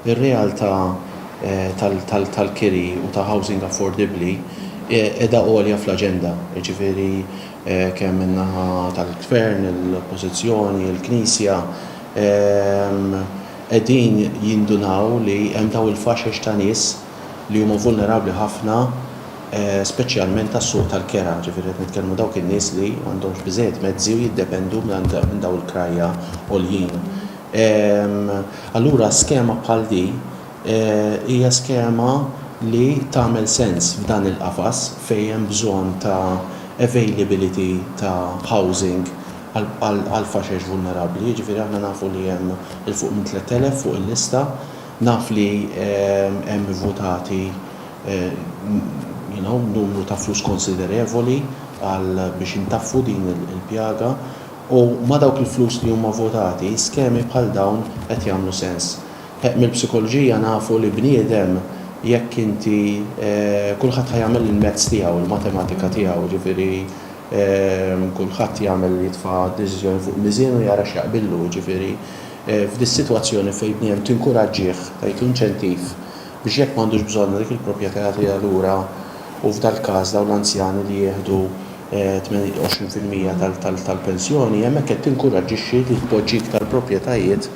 Ir-realtà tal-kiri u ta' housing affordabbli qiegħda għolja fl-aġenda, jiġifieri kemm min-naħa tal-Gvern, l-Oppożizzjoni, il-Knisja qegħdin jindunaw li hemm dawn il-faxex ta' nies, li huma vulnerabbli ħafna speċjalment għas-suq tal-kera, ġifieri qed nitkellmu dawk in-nies li m'għandhomx biżżejjed mezzi u jiddependu minn dawn il-krajja għoljin. Allura skema bħal di hija skema li tagħmel sens f'dan il-qafas fejn hemm bżonn ta' availability ta' housing għall-faxex vulnerabbli, jiġifieri aħna nafu li hemm 'il fuq minn 3,000 fuq il-lista. Naf li hemm ivvutati you know numru ta' flus konsiderevoli għal biex intaffu din il-pjaga u ma' dawk il-flus li huma vvutati skemi bħal dawn qed jagħmlu sens. Mill-psikoloġija nafu li bniedem jekk inti kulħadd ħa jagħmel il-mezz tiegħu, il-matematika tiegħu, jiġifieri kulħadd jagħmel jitfa' deċiżjoni fuq miżien u jara x'jaqbillu, jiġifieri F'dis-sitwazzjoni fejn bniedem tinkuraġġih, tagħtlu inċentiv biex jekk m'għandux bżonnha dik il-propjetà jagħtiha lura u f'dal-każ dawn l-anzjani li jieħdu 28 fil-mija tal-pensjoni, hemmhekk qed tinkuraġġixxi li tpoġġi iktar propjetajiet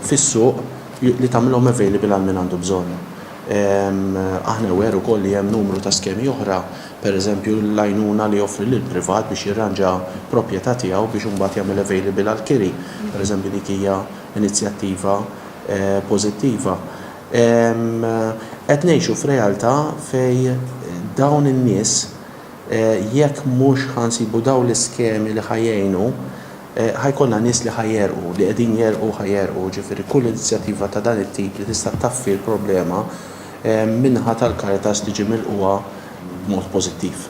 fis-suq li tagħmilhom available għal min għandu bżonn. Aħna aware ukoll li hemm numru ta' skemi oħra. pereżempju l-għajnuna li joffri lill-privat biex jirranġa proprjetà tiegħu biex imbagħad jagħmel available għall-kiri, pereżempju dik hija inizjattiva pożittiva. Qed ngħixu f'realtà fejn dawn in-nies jekk mhux ħa nsibu dawn l-iskemi li ħa jgħinu, ħa jkollna nies li ħa jegħrqu, li qegħdin jerqu u ħa jerqu, jiġifieri kull inizjattiva ta' dan it-tip li tista' ttaffi l-problema min-naħa tal-Caritas tiġi milqugħa b'mod pożittiv.